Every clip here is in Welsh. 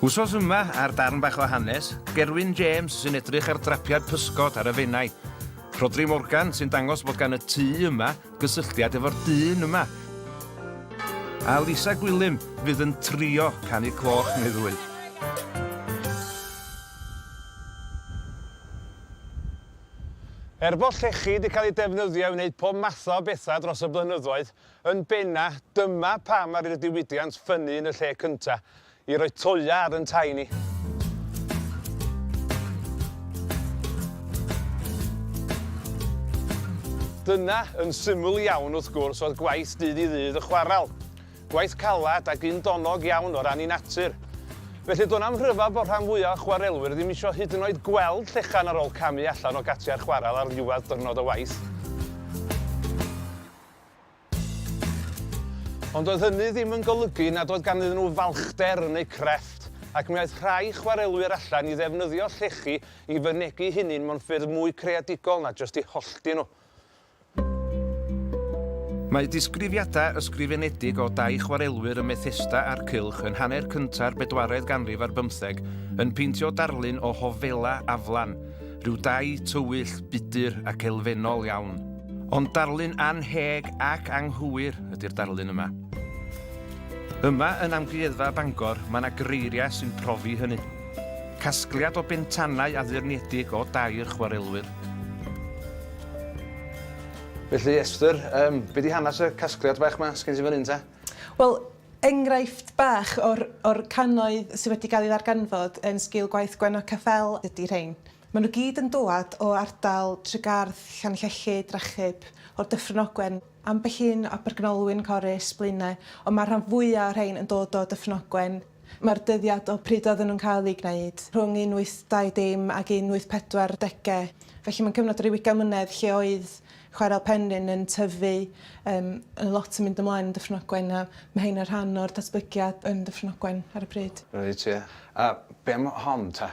Wsos yma, ar Darn Bach o Hanes, Gerwyn James sy'n edrych ar drapiad pysgod ar y Fenai, Rhodri Morgan sy'n dangos bod gan y tŷ yma gysylltiad efo'r dyn yma, a Lisa Gwilym fydd yn trio canu cloch neu ddwy. Er bod llechi 'di cael eu defnyddio i wneud pob math o bethau dros y blynyddoedd, Yn benna, dyma pam ar i'r diwydiant ffynnu yn y lle cynta, i roi toea ar yn tai ni. Dyna, yn syml iawn wrth gwrs, oedd gwaith dydd i ddydd y chwaral. Gwaith calad ac un donog iawn o ran i natur. Felly do'n am rhyfel bod rhan fwyaf o chwarelwyr ddim isio hyd yn oed gweld llechan ar ôl camu allan o gatiau'r chwaral ar ddiwedd dyrnod o waith. Ond doedd hynny ddim yn golygu nad oedd ganddyn nhw falchder yn eu crefft, ac mi aeth rhai chwarelwyr allan i ddefnyddio llechi i fynegi'u hunain mewn ffyrdd mwy creadigol na jyst eu hollti nhw. Mae disgrifiadau ysgrifenedig o dai chwarelwyr ym Methesda a'r Cylch yn hanner cynta'r bedwaredd ganrif ar bymtheg yn peintio darlun o hofela aflan, rhyw dai tywyll, budr ac elfennol iawn. Ond darlun annheg ac anghywir ydy'r darlun yma. Yma yn Amgueddfa Bangor mae yna greiriau sy'n profi hynny. Casgliad o bentanau addurniedig o dair chwarelwyr. Felly Esther, um, be di hanes y casgliad bach yma sgen ti fan hyn ta? Wel, enghraifft bach o'r, or cannoedd sydd wedi cael ei ddarganfod yn sgil gwaith Gwenno Caffel ydy rhain. Maen nhw gyd yn dwad o ardal Tregarth, Llanllelli, Drachub, o'r Dyffryn Ogwen, ambell un o Bergynolwyn, Corris, Blaenau, ond mae'r rhan fwyaf o'r rhain yn dod o Dyffryn Ogwen. Mae'r dyddiad o pryd oedden nhw'n cael eu gwneud rhwng 1820 ac 1840, felly mae'n cyfnod yr Ugian Mlynedd lle oedd chwarel Penrhyn yn tyfu, yym, yn lot yn mynd ymlaen yn Dyffryn Ogwen, a mae rhain yn rhan o'r datblygiad yn Dyffryn Ogwen ar y pryd. Reit, ie. A be am hon ta?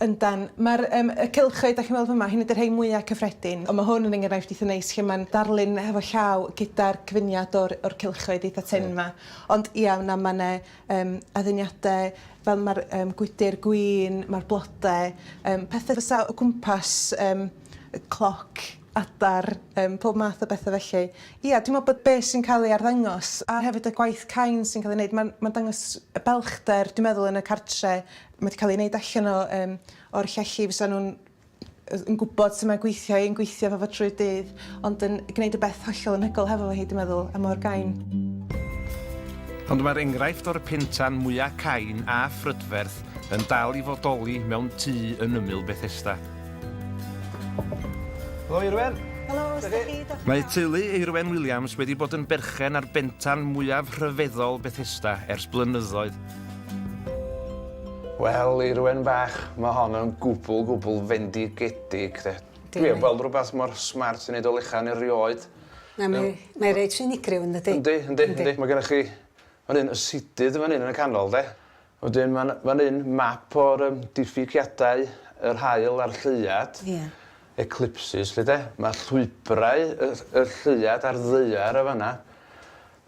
Yndan. Mae'r yym y cylchoedd dach chi'n weld fyma, hyn ydy'r rhai mwya' cyffredin, ond ma' hwn yn enghraifft eitha' neis lle ma'n darlun hefo llaw gyda'r cyfuniad o'r o'r cylchoedd eitha' tynn 'ma. Ond ia na ma' 'ne yym adduniade fel ma'r yym gwydyr gwin, ma'r blode yym pethe fysa o gwmpas yym y cloc, adar, yym pob math o bethe felly. Ia dwi me'wl bod be' sy'n ca'l ei arddangos a hefyd y gwaith cain sy'n ca'l ei neud ma'n ma'n dangos y balchder dwi meddwl yn y cartre Mae 'di cael ei wneud allan o yym o'r llechi fysa nhw'n yy yn gwybod sut mae gweithio i yn gweithio efo fo trwy'r dydd ond yn gwneud y beth hollol anhygoel hefo fo hi dwi'n meddwl a mor gain. Ond mae'r enghraifft o'r pentan mwya' cain a phrydferth yn dal i fodoli mewn tŷ yn ymyl Bethesda. Helo Irwen! Helo, sut 'dach chi? Diolch. Mae teulu Irwen Williams wedi bod yn berchen ar bentan mwyaf rhyfeddol Bethesda ers blynyddoedd. Wel, i rywun bach, mae hon yn gwbl, gwbl fendigedig, de. Dwi heb weld rhywbeth mor smart i wneud o lechan erioed. Na, mae, mae reit unigryw yn dydi? Yndi, yndi, yndi. Mae gennych chi fan hyn y sidydd yn fan hyn yn y canol, de. Wedyn mae'n fan hyn map o'r um, diffygiadau yr hael a'r lleuad. Ie. Yeah. Eclipses, lle de. Mae llwybrau y, y lleuad a'r ddeiar y fanna.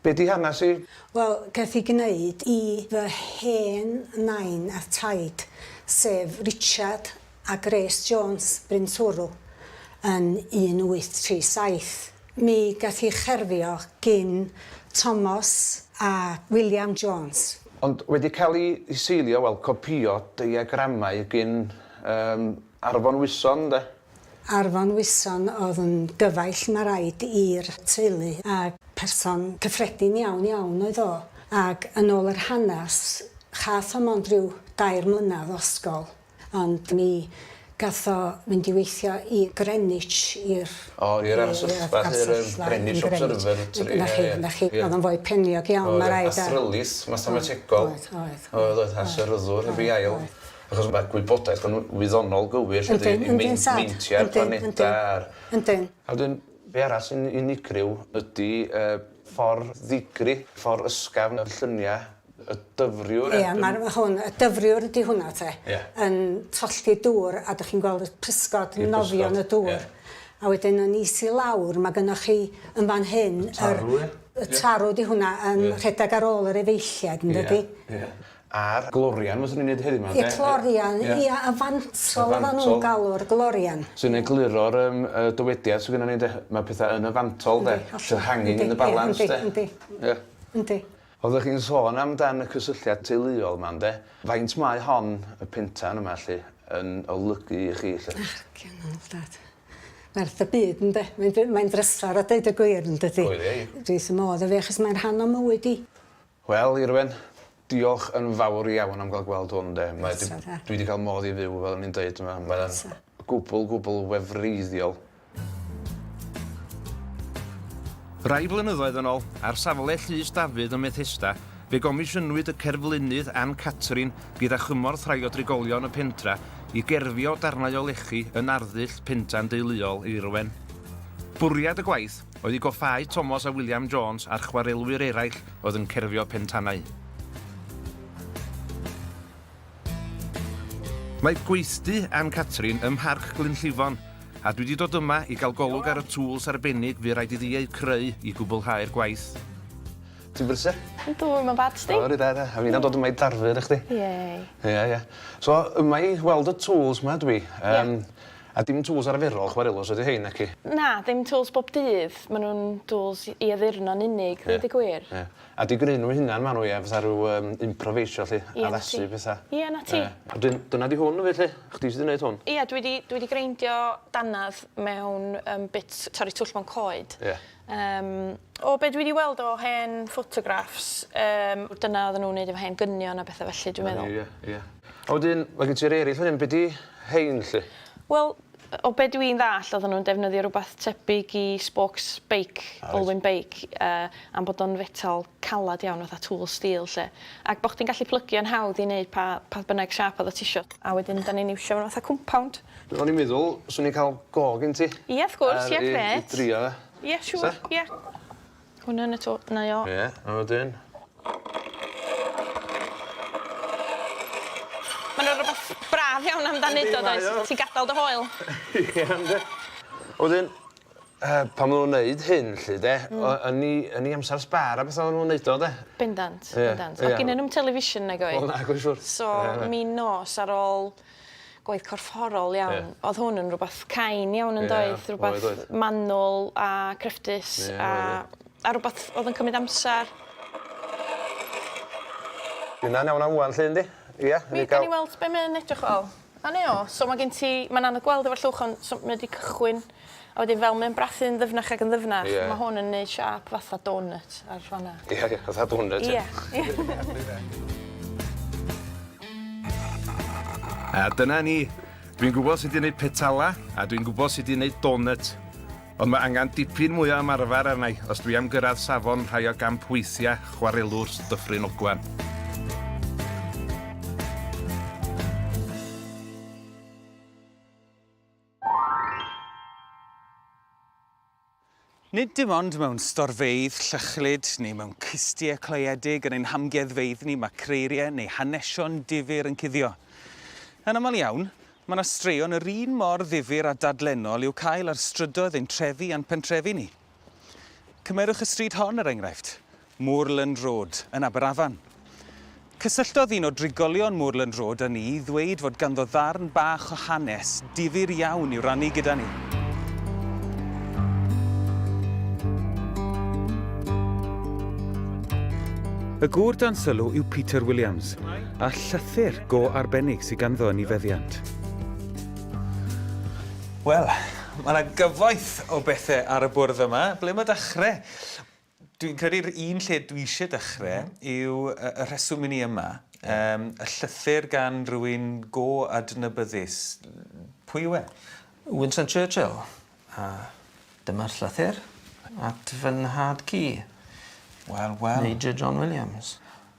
Be di hanes hi? Wel, gaeth hi gneud i fy hen nain a'r taid, sef Richard a Grace Jones, Bryn Twrw, yn 1837. Mi gaeth hi cherfio gin Tomos a William Jones. Ond wedi cael i seilio, wel, copïo deiagramau gin Arfon Wyson, 'nde? Ar fy ngwison oedd yn gyfaill ma raid i'r teulu ag person cyffredin iawn iawn oedd o ag yn ôl yr hanas chath o mond ryw dair mlynadd o ysgol ond mi gath o fynd i weithio i Greenwich i'r O i'r arsylfa lly yr yym Greenwich Observatory na chi na chi oedd o'n foi peniog iawn ma raid a Oedd yn astrylith mathemategol oedd oedd oedd oedd a syryddwr hefyd ail Achos ma' gwybodaeth yn wyddonol gywir lle 'di ni'n meinc meintia'r planeda a'r... Yndi. A wedyn be' arall sy'n unigryw ydi y ffor ddigri, ffor ysgafn y llynia y dyfriwr... Ia ma'r ma' hwn y dyfriwr ydi hwnna 'te. Ia. Yn tollti dŵr a dych chi'n gweld y pysgod yn nofio yn y dŵr. Ie. A wedyn yn is i lawr ma' gynnoch chi yn fan hyn yr... Tarw ia? Y tarw 'di hwnna yn rhedag ar ôl yr efeilliaid yndydi? Ia ia. a'r glorian fyswn i'n neud heddiw 'ma de. Y clorian ia y fantol oddan nw'n galw'r glorian. Sy'n egluro'r yym y dywediad sy gynnon ni de ma' petha yn y fantol de the hanging in the balance de. Yndi yndi. Ia. Yndi. Oddech chi'n sôn am dan y cysylltiad teuluol 'ma ynde? Faint mae hon y pentan yma 'lly yn olygu i chi 'lly? Bachcian o ofnadw. Werth y byd ynde? Mae'n by- mae'n drysor a deud y gwir yndydi? Oedd e ie. Dwi wth fy modd efo 'i achos mae'n rhan o mywyd i. Wel Irwen, diolch yn fawr iawn am ga'l gweld hwn 'de. Mae 'di... Croeso 'te. ...dwi 'di ca'l modd i fyw fel o'n i'n deud t'mo' mae o'n... Croeso. ...gwbwl gwbwl wefreiddiol. Rai blynyddoedd yn ôl, ar safle Llys Dafydd ym Methesda, fe gomisiynwyd y cerflunydd Ann Catrin gyda chymorth rhai o drigolion y pentra i gerfio darnau o lechi yn arddull pentan deuluol Irwen. Bwriad y gwaith, oedd i goffáu Tomos a William Jones a'r chwarelwyr eraill oedd yn cerfio pentanau. Mae gweithdy Ann Catrin ym Mharc Glynllifon, a dwi 'di dod yma i gael golwg ar y tŵls arbennig fu raid iddi eu creu i gwblhau'r gwaith. Ti'n brysur? Yndw, i'm yn bad, sdi? O, reit dda, a fi'n am dod yma i darfu arna chdi. Yay. Ie, ie. So, yma i weld y tŵls 'ma dwi. Ie. Yym. A dim tŵls arferol chwarelus ydy rhein, naci? Na, ddim tŵls bob dydd, maen nhw'n dŵls i addurno'n unig, ddeud y gwir. Ie, ie. A di-greu nhw eu hunain maen nhw, ie, fatha rhyw yym improveisio 'lly, addasu petha. Ie, 'na ti. Wedyn dyna 'di hwn 'fyd 'lly, chdi sy' 'di neud hwn? Ie, dwi 'di dwi 'di greindio dannedd mewn yym bits torri twll mewn coed. Ie. Yym, o be dwi 'di weld o hen ffotograffs, yym, dyna oedden nhw'n neud efo hen gynion a betha felly, dwi'n meddwl. Ia, ia. A wedyn, ma' gen ti'r ereill fan hyn, be 'di rhein 'lly? Wel, o be dwi'n ddall' oedden nhw'n defnyddio rwbath tebyg i spokes beic, Olwyn beic, yy am bod o'n fetal. caled iawn fatha tool steel 'lly ac bo' chdi'n gallu plygio'n hawdd i neud pa pa bynnag siâp odda tisio. A wedyn 'dan ni'n iwsio fatha compound. O'n i'n meddwl swn i'n ca'l go gen ti. Ie wrth gwrs ie grêt. Ar i i drio fe. Ie siŵr ie. Hwn yn y to- 'na i o. Ie a wedyn? Ma' 'na rwbath braf iawn amdan neud o does? Ti'n gadal dy hoyl. Ie yndi. A wedyn yy pan ma' nw'n neud hyn 'lly 'de... Hmm. ...o- yn 'u yn 'u amsar sbâr a betha o'n nw'n neud o 'de? Bendant. Ie. Bendant. Ie. O'dd ginnyn nw'm television nag oedd? Wel nag oedd siŵr. So mi nos ar ôl gwaith corfforol iawn... Ie. ...o'dd hwn yn rwbath cain iawn yndoedd? Ie. Oedd oedd. Rwbath rwbath manwl a cryfdus a... Ie oedd ie. ...a rwbath o'dd yn cymyd amsar. Dyna'n iawn am ŵan 'lly yndi? Ia? Newn ni ga'l... Newn ni weld be' mae o'n edrych fel. A ne o. So ma' gen ti, ma'n anodd gweld efo'r llwch on' so mae o 'di cychwyn a wedyn fel mae o'n brathu'n ddyfnach ag yn ddyfnach. Ie. Ma' hwn yn neud siâp fatha donut ar fan 'na. Ie ie fatha donut ie? Ie ie. A dyna ni. Dwi'n gwbo sud i neud petala a dwi'n gwbo sud i neud donut. Ond mae angen dipyn mwy o ymarfer arna i os dwi am gyrraedd safon rhai o gamp weithiau chwarelwr Dyffryn Ogwen. Nid dim ond mewn storfeydd llychlyd neu mewn cystiau cloiedig yn ein hamgueddfeydd ni mae creiriau neu hanesion difyr yn cuddio. Yn aml iawn, Mae 'na straeon yr un mor ddifyr a dadlennol i'w cael ar strydoedd ein trefi a'n pentrefi ni. Cymerwch y stryd hon, er enghraifft, Moorland Road, yn Aberafan. Cysylltodd un o drigolion Moorland Road â ni i ddweud fod ganddo ddarn bach o hanes difyr iawn i'w rannu gyda ni. Y gŵr dan sylw yw Peter Williams. a llythyr go arbennig sy ganddo yn ei feddiant. Wel, mae yna gyfoeth o bethau ar y bwrdd yma. Ble mae dechrau? Dwi'n credu'r un lle dwi eisiau dechrau yw y rheswm i ni yma. Um, y llythyr gan rwy'n go adnabyddus. Pwy yw e? Winston Churchill. A dyma'r llythyr at fy nhad cu. Wel, wel. Major John Williams.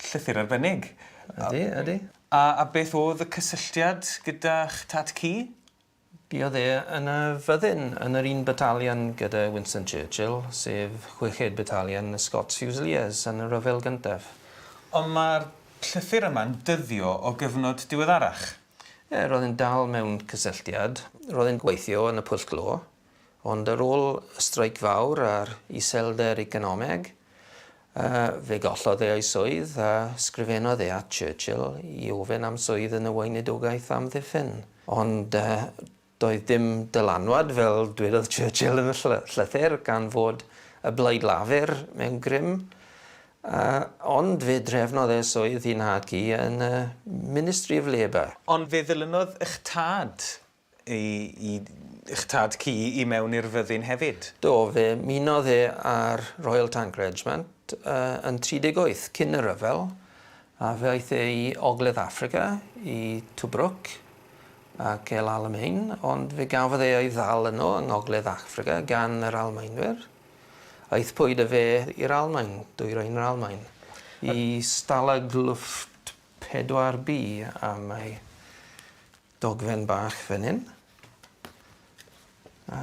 Llythyr arbennig. Ydi, ydi. A a beth o'dd y cysylltiad gyda'ch tad cu? Buodd e yn y fyddin yn yr un batalion gyda Winston Churchill, sef chweched batalion y Scots Fusiliers yn y rhyfel gyntaf. Ond ma'r llythyr yma'n dyddio o gyfnod diweddarach. Ie, ro'dd e'n dal mewn cysylltiad. Ro'dd e'n gweithio yn y Pwll Glo. Ond ar ôl y streic fawr a'r iselder economeg, fe gollodd e ei swydd a sgrifennodd e at Churchill i ofyn am swydd yn y Weinidogaeth Amddiffyn. Ond doedd dim dylanwad, fel dwedodd Churchill yn y llythyr, gan fod y Blaid Lafur mewn grym. Ond fe drefnodd e swydd ei nhad-cu yn y Ministry of Labour. Ond fe ddilynodd eich tad I eich tad ci i mewn i'r fyddin hefyd? Do, fe ymunodd e â'r Royal Tank Regiment yn 38, cyn y rhyfel, a fe aeth e i Ogledd Affrica, i Tobruk ac El Alamein, ond fe gafodd e ei ddal yno yng Ngogledd Affrica gan yr Almaenwyr. Aethpwyd â fe i'r Almaen, dwyrain yr Almaen, i Stalag Luft 4B am ei Dogfen bach fan 'yn. A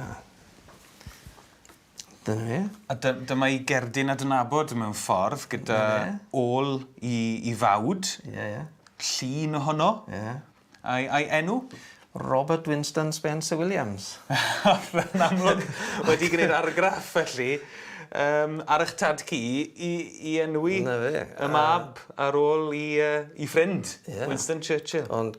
dyna fe. A dy- dyma 'i gerdyn adnabod mewn ffordd gyda... 'Na fe. ...ôl 'i 'i fawd. Ie ie. Llun ohono. Ie. A'i a'i enw? Robert Winston Spencer Williams. Yn amlwg wedi gneud argraff felly yym ar 'ych tad cu i i enwi... 'Na fe. ...y mab ar ôl 'i yy 'i ffrind. Ie. Winston Churchill. Ond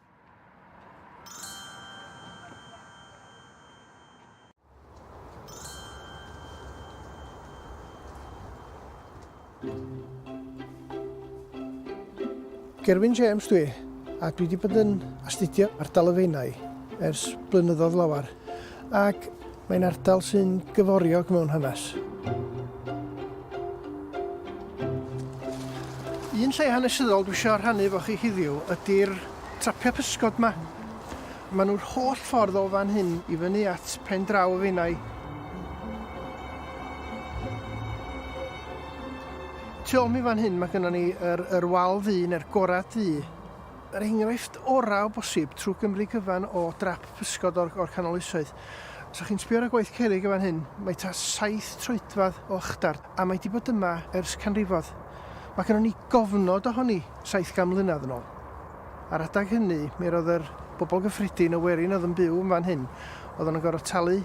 Gerwyn James dwi, a dwi wedi bod yn astudio ardal y Feinau ers blynyddoedd lawer. ac mae'n ardal sy'n gyforiog mewn hanes. Un lle hanesyddol dwi eisiau rhannu efo chi heddiw ydy'r trapiau pysgod yma. Maen nhw'r holl ffordd o fan hyn i fyny at pen draw y feinau. Tu ôl mi fan hyn mae gennym ni yr, yr wal ddu neu'r gorad ddu yr enghraifft orau o bosib trwy Gymru gyfan o drap pysgod o'r, or canol oesoedd. Os chi'n sbio ar y gwaith cerrig y fan hyn, mae ta saith troedfad o ychdar, a mae di bod yma ers canrifodd. Mae gennym ni gofnod ohoni saith gan mlynedd yn ôl. Ar adag hynny, mi roedd yr bobl gyffredin y werin oedd yn byw yn fan hyn, oedd yn gorfod talu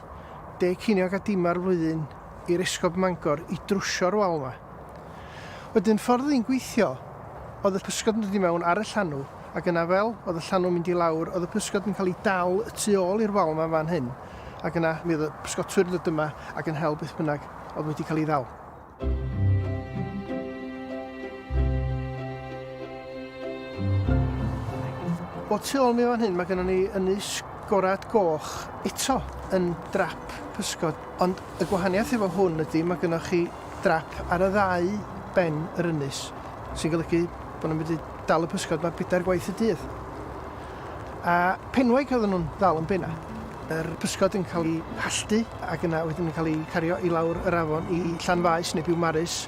deg ceiniog a dim ar flwyddyn i'r esgob Mangor i drwsio'r wal yma. Wedyn ffordd oedd hi'n gweithio oedd y pysgod yn dod i mewn ar y llanw ac yna fel oedd y llanw'n mynd i lawr oedd y pysgod yn cael ei dal y tu ôl i'r wal yma fan hyn ac yna mi oedd y pysgotwyr yn dod yma ac yn hel beth bynnag oedd wedi cael ei ddal. O tu ôl mi fan hyn mae gennym ni ynys gorad goch eto yn drap pysgod ond y gwahaniaeth efo hwn ydy mae gennych chi drap ar y ddau ben yr ynys, sy'n golygu bod nhw'n medru dal y pysgod 'ma bedair gwaith y dydd. A penwaig oedden nhw'n ddal yn bennau. Yr pysgod yn cael eu halltu ac yna wedyn yn cael eu cario i lawr yr afon i Llanfaes neu Biwmaris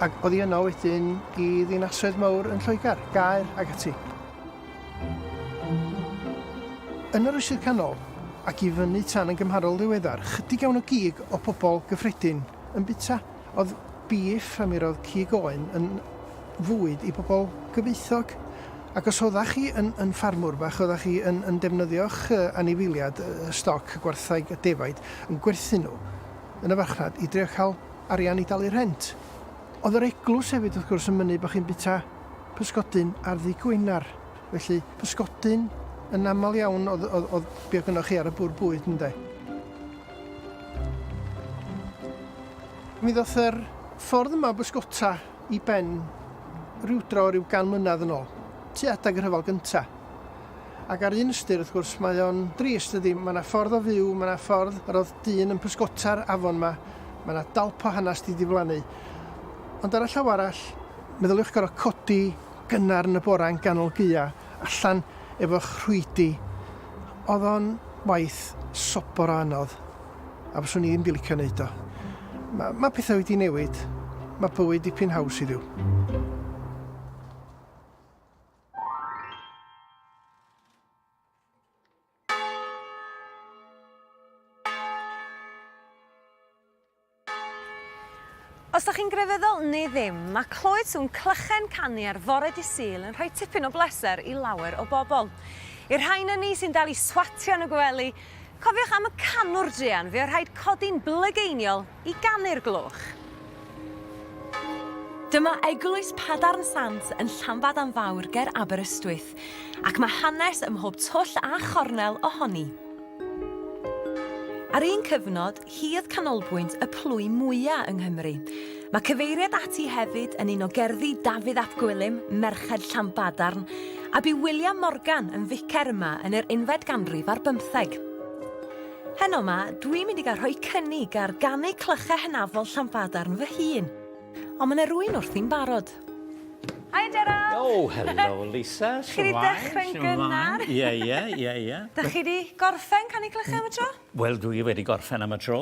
ac oddi yno wedyn i ddinasoedd mawr yn Lloegr, Gaer ac ati. Yn yr Oesoedd Canol ac i fyny tan yn gymharol ddiweddar, chydig iawn o gig o bobl gyffredin yn bita oedd bîff a mi roedd cig oen yn fwyd i bobl gyfoethog. Ac os oeddach chi yn, yn ffarmwr bach, oeddach chi yn, yn defnyddio'ch uh, anifeiliad, uh, stoc, y gwartheg, y defaid, yn gwerthu nhw yn y farchnad i drio cael arian i dalu rhent. Oedd yr eglwys hefyd wrth gwrs yn mynnu bod chi'n bita pysgodyn ar ddi Gwener. Felly pysgodyn yn aml iawn oedd, oedd, oedd be oedd gynnwch chi ar y bwr bwyd, ynde? Mi ddoth yr ffordd yma o bysgota i ben rywdro rhyw gan mlynedd yn ôl, tu adag y rhyfel gynta. Ac ar un ystyr, wrth gwrs, mae o'n drist ydi, mae yna ffordd o fyw, mae yna ffordd yr oedd dyn yn pysgota'r afon yma, mae yna dalp o hanes di diflannu. Ond ar y llaw arall, meddyliwch gorau codi gynnar yn y bora yn ganol gea, allan efo'ch rhwydi, oedd o'n waith sobor o anodd, a fyswn i ddim 'di licio 'neud o. Ma' ma' petha wedi newid, ma' bywyd dipyn haws heddiw. Os 'dach chi'n grefyddol neu ddim, ma' clywed sŵn clychau'n canu ar fore dy' Sul yn rhoi tipyn o bleser i lawer o bobl. I'r rhain ynni sy'n dal i swatio yn y gwely, cofiwch am y canwr druan, fe o' rhaid codi'n blygeiniol i ganu'r gloch. Dyma eglwys Padarn Sant yn Llanbadarn Fawr ger Aberystwyth, ac mae hanes ym mhob twll a chornel ohoni. Ar un cyfnod, hi oedd canolbwynt y plwy mwya yng Nghymru. Mae cyfeiriad ati hefyd yn un o gerddi Dafydd ap Gwilym, Merched Llanbadarn, a bu William Morgan yn ficer yma yn yr unfed ganrif ar bymtheg. Heno 'ma, dwi'n mynd i gael rhoi cynnig ar ganu clychau hynafol Llanbadarn fy hun. Ond mae 'na rwy'n wrthi'n barod. Hi Gerard! Oh, hello Lisa, shwmae? Chi 'di dechrau'n gynnar. Ie, ie, ie, ie. Da chi 'di gorffen canu clychau am y tro? Wel, dwi wedi gorffen am y tro.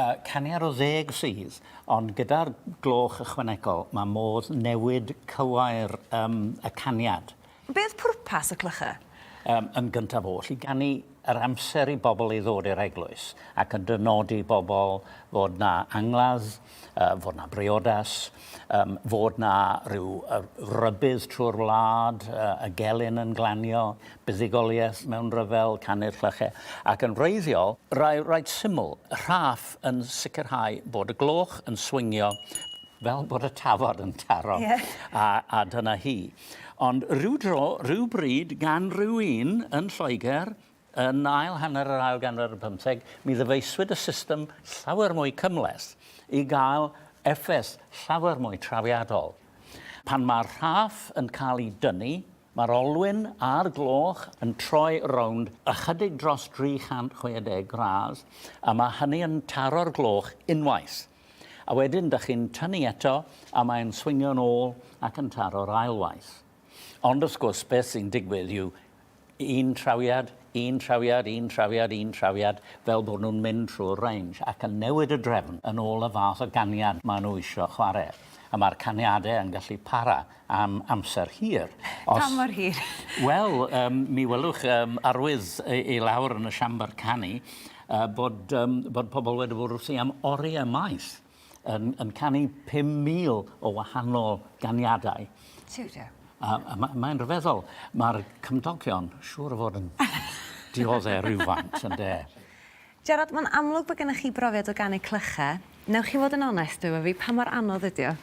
Y caniad o ddeg sydd, ond gyda'r gloch ychwanegol, mae modd newid cywair um, y caniad. Be oedd pwrpas y clychau? Um, yn gyntaf oll, i ganu yr amser i bobl i ddod i'r eglwys, ac yn dynodi bobl fod na angladd, uh, fod na briodas, Yym, fod 'na ryw yy rybudd trwy'r wlad, yy y gelyn yn glanio, buddugoliaeth mewn rhyfel, canu'r clychau, ac yn wreiddiol, rai reit syml, rhaff yn sicrhau bod y gloch yn swingio fel bod y tafod yn taro. Ie. A a dyna hi. Ond ryw dro, ryw bryd, gan ryw un yn Lloegr, Yn ail hanner yr ail ganrif ar bymtheg, mi ddyfeisiwyd y system llawer mwy cymhleth i gael effaith llawer mwy trawiadol. Pan mae'r rhaff yn cael ei dynnu, mae'r olwyn a'r gloch yn troi rownd ychydig dros 360 gradd, a mae hynny yn taro'r gloch unwaith. A wedyn, dych chi'n tynnu eto, a mae'n swingio'n ôl ac yn taro'r ail waith. Ond wrth gwrs, beth sy'n digwydd yw un trawiad, un trawiad, un trawiad, un trawiad, fel bod nhw'n mynd trwy'r range ac yn newid y drefn yn ôl y fath o ganiad maen nhw eisiau chwarae. A mae'r caniadau yn gallu para am amser hir. Os... Pa mor hir? Wel, um, mi welwch um, arwydd i lawr yn y siambr canu uh, bod, um, bod pobl wedi bod wrthi am oriau maith. yn, yn canu 5,000 o wahanol ganiadau. Tiw, tiw. A, a ma, mae'n rhyfeddol. Mae'r cymdogion siŵr o fod yn dioddau rhywfaint, yn de. Gerard, mae'n amlwg bod gennych chi brofiad o ganu clychau. Newch chi fod yn onest efo fi, pa mor anodd ydy o?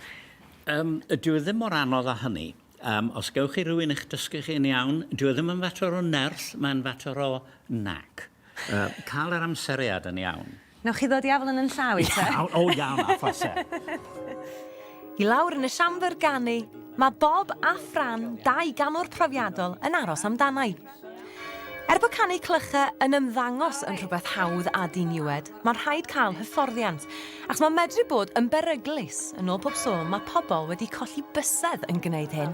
Um, dyw e ddim mor anodd â hynny. Um, os gewch chi rhywun eich dysgu chi'n iawn, dyw e ddim yn fater o nerth, mae'n fater o nac. Uh, cael yr amseriad yn iawn. Newch chi ddod i afal yn yn llaw i te? Iawn, o iawn, a phase. I lawr yn y siambr ganu, mae Bob a Fran, dau ganwr profiadol, yn aros amdanai. Er bod canu clycha yn ymddangos yn rhywbeth hawdd a diniwed, mae'n rhaid cael hyfforddiant, ac mae medru bod yn beryglus, yn ôl pob sôn mae pobl wedi colli bysedd yn gwneud hyn.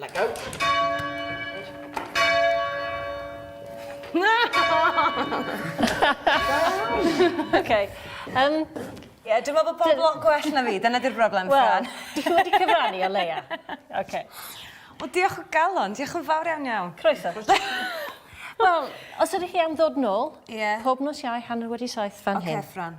Let go. okay. Um, Ie, yeah, dwi'n meddwl bod pob lot gwell na fi, dyna di'r broblem, Fran. Wel, ti wedi cyfrannu o leia. Okay. O, diolch o galon, diolch yn fawr iawn iawn. Croeso. Wel, os ydych chi am ddod nôl, yeah. pob nos iau hanner wedi saith fan okay, hyn. Oce, Fran.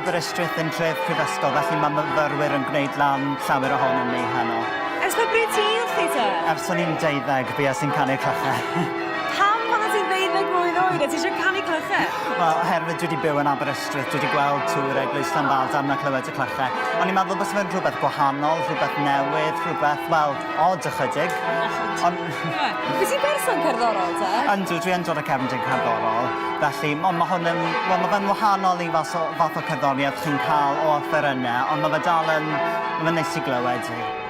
Aberystwyth yn tref prifysgol, felly mae myfyrwyr yn gwneud lan llawer ohonyn ni heno. Ers pa bryd ti wrthi te? Ers o'n i'n deuddeg, bia sy'n canu'r clochau. Pam oeddet ti'n ddeuddeg mlwydd oed a ti eisiau canu clychau? Wel, oherwydd dwi wedi byw yn Aberystwyth, dwi wedi gweld tŵr eglwys Llanfadarn a clywed y clychau. O'n i'n meddwl bysa fe'n rhywbeth gwahanol, rhywbeth newydd, rhywbeth, wel, od ychydig. Ond... Wyt ti'n berson cerddorol te? Yndw, dwi yn dod o cefndir cerddorol, felly ond ma' hwn yn, wel, ma' fe'n wahanol i fath o fath o cerddoriaeth chi'n cael o offerynnau, ond ma' fe dal yn, ma'n neis i glywed hi.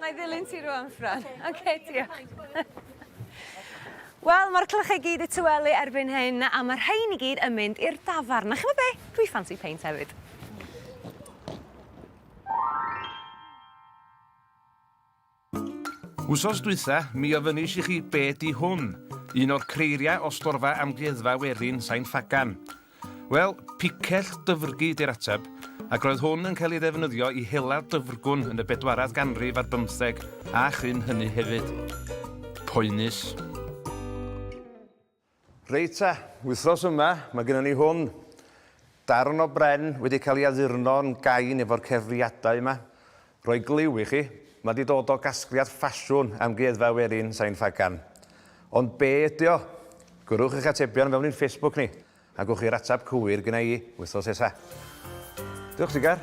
Nai ddilyn ti rwan, Fran. Ok, diolch. Wel, ma'r clychau i gyd 'di tywelu erbyn hyn, a ma' rhein i gyd yn mynd i'r dafarn. A ch'mod be'? Dwi ffansi peint hefyd. Wsos dwytha, mi ofynis i chi be' 'di hwn? Un o'r creiriau o storfa Amgueddfa Werin, Sain Ffagan. Wel, picell dyfrgi ydy'r ateb, ac roedd hwn yn cael ei ddefnyddio i hela dyfrgwn yn y bedwaredd ganrif ar bymtheg a chyn hynny hefyd. Poenus. Reit ta, wythnos yma mae gennym ni hwn, darn o bren wedi cael ei addurno'n gain efo'r cefriadau yma, Rhoi glyw i chi, ma di dod o gasgliad ffasiwn Amgueddfa Werin Sain Ffagan. Ond be ydy o? Gwrwch eich atebion fewn i'n Facebook ni, a gwch chi'r atab cywir gynna i wythnos nesa. Diolch Sigar!